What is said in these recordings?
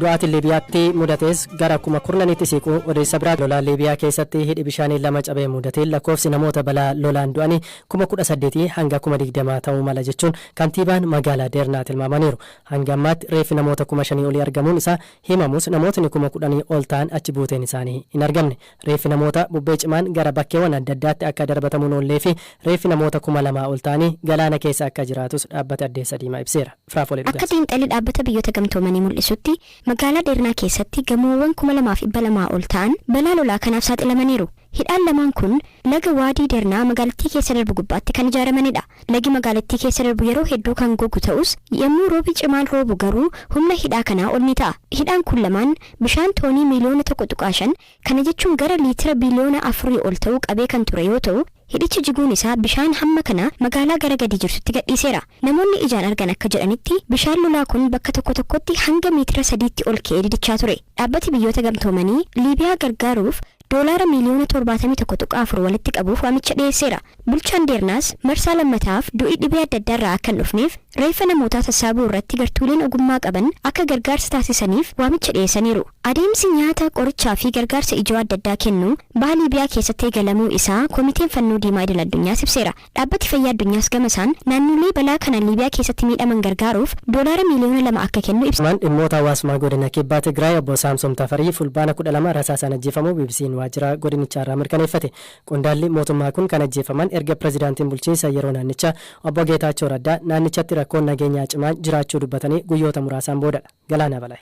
Du'aatiin Liibiyaatti mudatees gara kuma kurnaniitti siiquu odeessa biraati. Lola Liibiyaa keessatti hidhi bishaanii lama cabee mudateen lakkoofsi namoota balaa lolaan du'anii kuma kudha saddeetii hanga kuma digdamaa ta'uu mala jechuun kantiibaan magaalaa Deernaa tilmaamaniiru. Hanga ammaatti reeffi namoota kuma shanii olii argamuun isaa himamus namootni kuma kudhanii ol ta'an achi buuteen isaanii hin argamne. Reeffi namoota bubbee cimaan gara bakkeewwan adda addaatti akka darbatamuun oolleefi reeffi namoota kuma lamaa ol ta'anii galaana keessa akka jiraatus dhaabbati Addeessa Diimaa ibseera. Frafole Akka Dhugasa. xiinxalli Dhaabbata Biyyoota Gamtoomanii mul'isutti, magaalaa Deernaa keessatti gamoowwan 2,200 ol ta'an balaa lolaa kanaaf saaxilamaniiru. Hidhaan lamaan kun laga Waadii Deernaa magaalattii keessa darbu gubbaatti kan ijaaramanidha. Lagi magaalattii keessa darbu yeroo hedduu kan gogu ta'us, yommuu roobi cimaan roobu garuu humna hidhaa kanaa ol ni ta'a. Hidhaan kun lamaan bishaan toonii miiliyoona 1.5 Kana jechuun gara liitira biiliyoona afurii ol ta'u qabee kan ture yoo ta'u, hidhichi jiguun isaa bishaan hamma kana magaalaa gara gadii jirtutti gadhiiseera. Namoonni ijaan argan akka jedhanitti, bishaan lolaa kun bakka tokko tokkotti hanga miitira sadiitti ol ka'ee didichaa ture. Dhaabbati Biyyoota Gamtoomanii Liibiyaa gargaaruuf doolaara miiliyoona torbaatamii tokko tuqaa afur walitti qabuuf waamicha dhiyeesseera. Bulchaan Deernaas marsaa lammataaf du'i dhibee adda addaarraa akka hin dhufneef reeffa namootaa sassaabuu irratti gartuuleen ogummaa qaban akka gargaarsa taasisaniif waamicha dhiyeessaniiru. Adeemsi nyaata, qorichaa fi gargaarsa ijoo adda addaa kennuu Baha Liibiyaa keessatti eegalamuu isaa Komiteen Fannoo Diimaa Idil Addunyaas ibseera. Dhaabbati Fayyaa Addunyaas gama isaan naannolee balaa kanaan Liibiyaa keessatti miidhaman gargaaruuf doolaara miiliyoona 2 akka kennu ibseera. Himaan Dhimmoota Hawaasummaa Godina Kibba Tigraay Obbo Saamsom Tafarii Fulbaana 12 rasaasaan ajjeefamuu BBC'n waajjira godinichaarraa mirkaneeffate. Qondaalli mootummaa kun kan ajjeefaman erga pirezidaantiin bulchiinsa yeroo naannichaa Obbo Geetaachoo Raddaa naannichatti rakkoon nageenyaa cimaan jiraachuu dubbatanii guyyoota muraasaan boodadha. Galaanaa Balaay.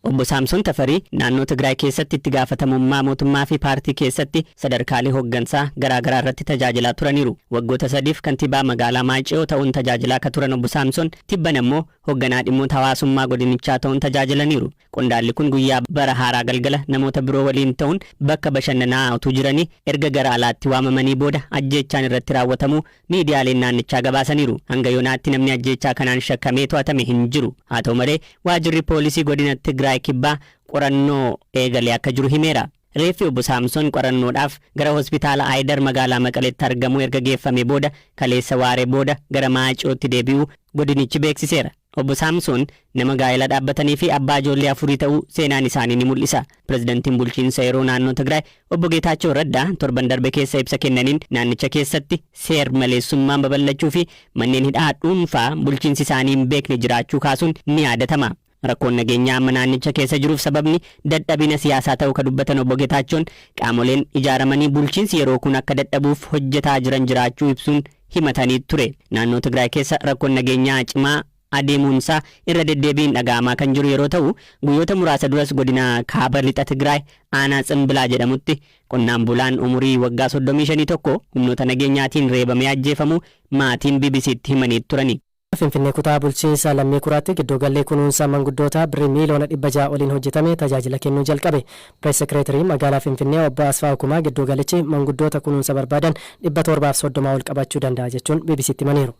Obbo Saamson Tafarii naannoo Tigraay keessatti itti gaafatamummaa mootummaa fi paartii keessatti sadarkaalee hoggansaa garaa garaa irratti tajaajilaa turaniiru. Waggoota sadiif kantiibaa magaalaa Maayce'oo ta'uun tajaajilaa ka turan Obbo Saamson tibbana immoo hogganaa dhimmoota hawaasummaa godinichaa ta'uun tajaajilaniiru. Qondaalli kun guyyaa bara haaraa galgala namoota biroo waliin ta'uun bakka bashannanaa utuu jiranii erga gara alaatti waamamanii booda ajjeechaan irratti raawwatamuu miidiyaaleen naannichaa gabaasaniiru. Hanga yoonaatti namni ajjeechaa kanaan shakkamee to'atame hin jiru. Haa ta'u malee, waajirri poolisii godina Tigraay Kibbaa qorannoo eegalee akka jiru himeera. Reeffi Obbo Saamsoon qorannoodhaaf gara Hospitaala Ayidar magaalaa Maqaleetti argamu erga geeffamee booda kaleessa waaree booda gara Maacootti deebi'uu godinichi beeksiseera. Obbo Saamsoon nama gaa'ela dhaabbatanii fi abbaa ijoollee afurii ta'uu seenaan isaanii ni mul'isa. Pirezidantiin bulchiinsa yeroo naannoo Tigraay Obbo Geetaachoo Raddaa torban darbe keessa ibsa kennaniin naannicha keessatti seer maleessummaan babal'achuu fi manneen hidhaa dhuunfaa bulchiinsi isaanii hin beekne jiraachuu kaasuun ni yaadatama. Rakkoon nageenyaa amma naannicha keessa jiruuf sababni dadhabina siyaasaa ta'uu ka dubbatan Obbo Getaachoon, qaamoleen ijaaramanii bulchiinsi yeroo kun akka dadhabuuf hojjetaa jiran jiraachuu ibsuun himatanii ture. Naannoo Tigraay keessa rakkoon nageenyaa cimaa adeemuunsaa irra deddeebiin dhaga'amaa kan jiru yeroo ta'u, guyyoota muraasa duras godina Kaaba Lixa Tigraay aanaa Tsimbilaa jedhamutti qonnaan bulaan umurii waggaa 35 tokko humnoota nageenyaatiin reebamee ajjeefamuu maatiin BBC'tti himanii turani. Finfinnee Kutaa Bulchiinsa Lammii Kuraatti Giddoogalli Kunuunsa Manguddootaa Birrii Miiliyoona 600 oliin hojjetame tajaajila kennuu jalqabe. Pirees Sekireetariin Magaalaa Finfinnee Obbo Asfaawu Kumaa giddoogalichi manguddoota kunuunsa barbaadan 730 ol qabachuu danda'a jechuun BBC'tti himaniiru.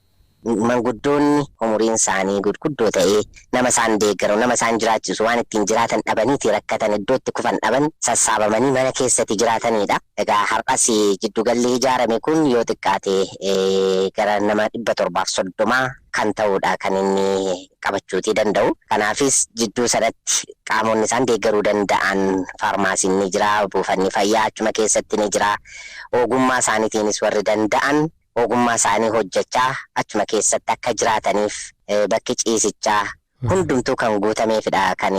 Manguddoonni umuriin isaanii gudguddoo ta'e nama isaan deeggaru, nama isaan jiraachisu, waan ittiin jiraatan dhabaniiti rakkatan, iddoo itti kufan dhaban sassaabamanii mana keessati jiraataniidha. Egaa har'as giddu galli ijaarame kun yoo xiqqaate gara nama 730 kan ta'uudha kan inni qabachuutii danda'u. Kanaafis jidduu sanatti qaamonni isaan deeggaruu danda'an faarmaasiin ni jira, buufanni fayyaa achuma keessatti ni jira. Ogummaa isaaniitiinis warri danda'an ogummaa isaanii hojjechaa achuma keessatti akka jiraataniif bakki ciisichaa hundumtuu kan guutameefidha kan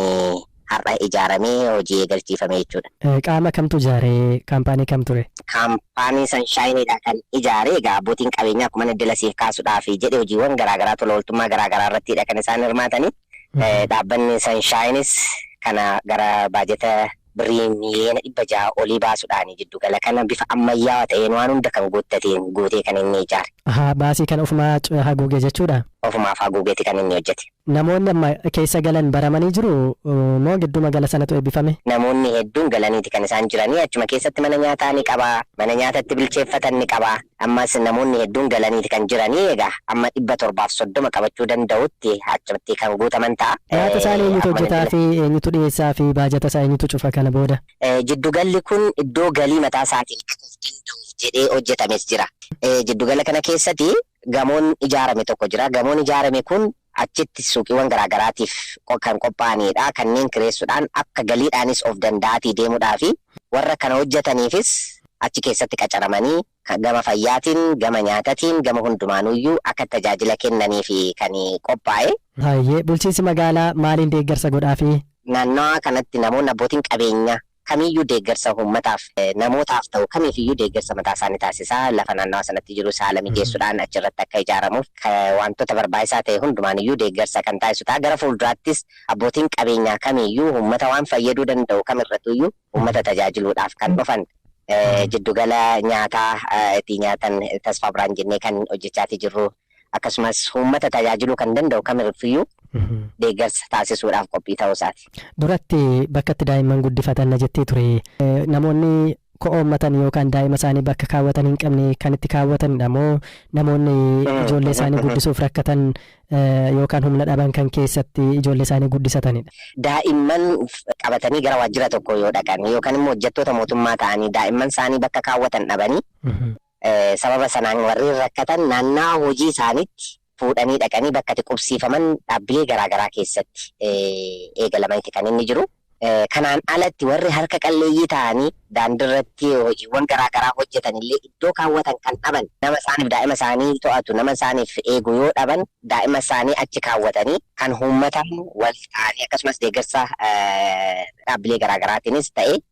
har'a ijaaramee hojii eegalchiifame jechuudha. Qaama kamtu ijaare? Kaampaanii kam ture? Kaampaanii Sanshaayiniidha kan ijaare. Egaa abbootiin qabeenyaa akkuma inni dila siif kaasuudhaaf jedhe hojiiwwan garaagaraa tola ooltummaa garaagaraa irrattiidha kan isaan hirmaatanii. Dhaabbanni Sanshaayinis kana gara baajeta Birrii miiliyoona 600 olii baasuudhaan jiddugala kana bifa ammayyaawa ta'een waan hunda kan guuttateen guutee kan inni ijaare. Ahaa baasii kana ofumaa haguuge jechuudha? Ofumaaf haguugeeti kan inni hojjete. Namoonni amma keessa galan baramanii jiru moo gidduma gala sanatu eebbifame? Namoonni hedduun galaniiti kan isaan jiranii achuma keessatti mana nyaataa ni qaba, mana nyaata itti bilcheeffatan ni qaba, Ammas namoonni hedduun galaniiti kan jiranii egaa amma 730 qabachuu danda'utti achumatti kan guutaman ta'a. Nyaata isaanii eenyutu Akkuma hojjetaa nuti fi eenyutu dhiyeessaa fi baajata isaa eenyutu cufa kana booda? Eh, Jiddugalli kun iddoo galii mataa isaatiin akka of danda'uuf jedhee hojjetames jira. Eh, Jiddugala kana keessatti gamoon ijaarame tokko jira. Gamoon ijaarame kun Achitti suuqiiwwan garaa garaatiif kan qophaa'aniidha. Kanneen kireessuudhaan akka galiidhaanis of danda'aatii deemuudhaafi. Warra kana hojjataniifis achi keessatti qacaramanii gama fayyaatiin, gama nyaatatiin, gama hundumaanuuyyuu akka tajaajila kennaniifi kan qophaa'e. Hayyee, bulchiinsi magaalaa maaliin deeggarsa godhaafii? Naannawaa kanatti namoonni abbootiin qabeenyaa. kamiyyuu deeggarsa uummataaf, namootaaf ta'u kamiifiyyuu deeggarsa mataasaa ni taasisa. Lafa naannawa sanatti jirus haala mijeessuudhaan achirratti akka ijaaramuuf waantota barbaachisaa ta'e hundumaaniyyuu deeggarsa kan taasisu ta'a. Gara fuulduraattis abbootiin qabeenyaa kamiiyyuu uummata waan fayyaduu danda'u kamirratuyyuu uummata tajaajiluudhaaf kan dhufan jiddugala nyaataa itti nyaatan Tasfaa Birhaan jennee kan hojjechaatii jirru. akkasumas uummata tajaajiluu kan danda'u kamirffiyyuu deeggarsa taasisuudhaaf qophii ta'uu isaati. Duratti bakka itti daa'imman guddifatan na jettee ture. Namoonni ko'oommatan yookaan daa'ima isaanii bakka kaawwatan hin qabne kan itti kaawwatanidha moo namoonni ijoollee isaanii guddisuuf rakkatan yookaan humna dhaban kan keessatti ijoollee isaanii guddisatanidha? Daa'imman qabatanii gara waajjira tokkoo yoo dhaqan yookaan immoo hojjettoota mootummaa ta'anii daa'imman isaanii bakka kaawwatan dhabanii Sababa sanaan warreen rakkatan naannawaa hojii isaaniitti fuudhanii dhaqanii bakka itti qubsiifaman dhaabbilee garaa garaa keessatti eegalamaniiti kan inni jiru. Kanaan alatti warri harka qalleeyyii ta'anii daandirratti hojiiwwan garaa garaa hojjetan illee iddoo kaawwatan kan dhaban nama isaaniif daa'ima isaanii to'atu nama isaaniif eegu yoo dhaban daa'ima isaanii achi kaawwatanii kan uummataan wal ta'anii akkasumas deeggarsa dhaabbilee garaa garaatiinis ta'e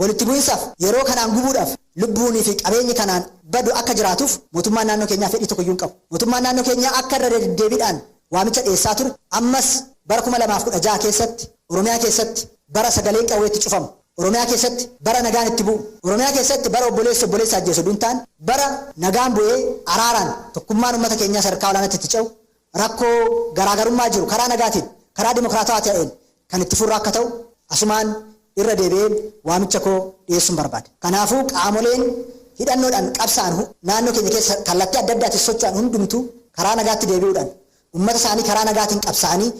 Walitti bu'insaaf yeroo kanaan gubuudhaaf lubbuunii fi qabeenyi kanaan badu akka jiraatuuf mootummaan naannoo keenyaa fedhii tokko iyyuu hin qabu. Mootummaan naannoo keenyaa akka irra deddeebiidhaan waamicha dhiyeessaa ture ammas bara 2016 keessatti Oromiyaa keessatti bara sagaleen qawwee itti cufamu, Oromiyaa keessatti bara nagaan itti bu'u, Oromiyaa keessatti bara obboleessi obboleessa ajjeesu utuu hin taane bara nagaan bu'ee araaraan tokkummaan uummata keenyaa sadarkaa olaanaatti itti ce'u rakkoo garaagarummaa jiru karaa nagaatiin, karaa dimokiraatawaa ta'een kan itti furru akka ta'u asumaan irra deebi'een waamicha koo dhiyeessuun barbaada. Kanaafuu qaamoleen hidhannoodhaan qabsaa'an naannoo keenya keessa kallattii adda addaatiin socho'an hundumtuu karaa nagaatti deebi'uudhaan ummata isaanii karaa nagaatiin qabsaa'anii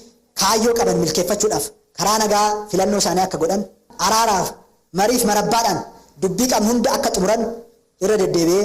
kaayyoo qaban milkeeffachuudhaaf karaa nagaa filannoo isaanii akka godhan, araaraaf, mariif marabbaadhaan dubbii qabnu hunda akka xumuran irra deddeebi'ee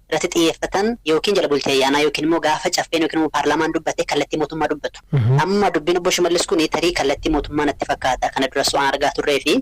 irratti xiyyeeffatan ykn jala bultii ayyaanaa ykn immoo gaafa caffeen ykn immoo paarlaamaan dubbate kallattii mootummaa dubbatu. Amma dubbiin obbo Shimallis kuni tarii kallattii mootummaa natti fakkaata kana duras waan argaa turree fi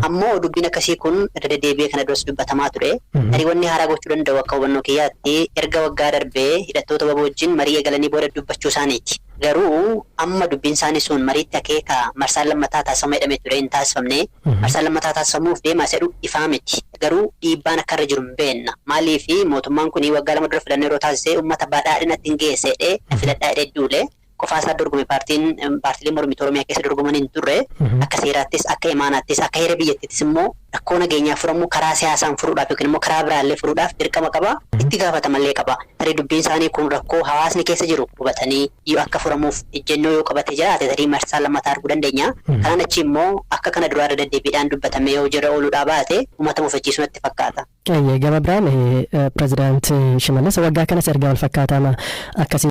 ammoo dubbiin akkasii kun irra deddeebi'ee kana duras dubbatamaa ture. Tarii wanni haaraa gochuu danda'u akka hubannoo kiyyaatti erga waggaa darbe hidhattoota wbo wajjin marii eegalanii booda dubbachuu isaaniiti. Garuu amma dubbiin isaanii sun mariitti akeeka marsaan lammataa taasifama jedhamee ture hin taasifamne. Marsaan lammataa taasifamuuf deemaa isa jedhu ifaa miti. Garuu dhiibbaan akka irra jiru hin beenna. Maaliif mootummaan kun waggaa lama dura filannoo yeroo taasise ummata Badhaadhinatti hin geessa jedhee na filadhaa jedhee duule. Qofaa isaa dorgome paartiin paartileen mormituu Oromiyaa keessa dorgoman hin turre. Akka seeraattis akka imaanaattis akka heera biyyattiittis immoo rakkoo nageenyaa furamu karaa siyaasaan furuudhaaf yookiin immoo karaa biraa illee furuudhaaf dirqama qaba. Itti gaafatamallee qaba. Tarii dubbiin isaanii kun rakkoo hawaasni keessa jiru hubatanii. iyyuu akka furamuuf ejjennoo yoo qabate jiraate tarii marsaa lammataa arguu dandeenya. Kanaan achii immoo akka kana duraa irra deddeebiidhaan dubbatamee yoo hojiirra ooluudhaa baate ummata mufachiisu natti fakkaata. Eeyyee, gama biraan Pirezidaanti Shimallis waggaa kanas ergaa walfakkaataama akkasii.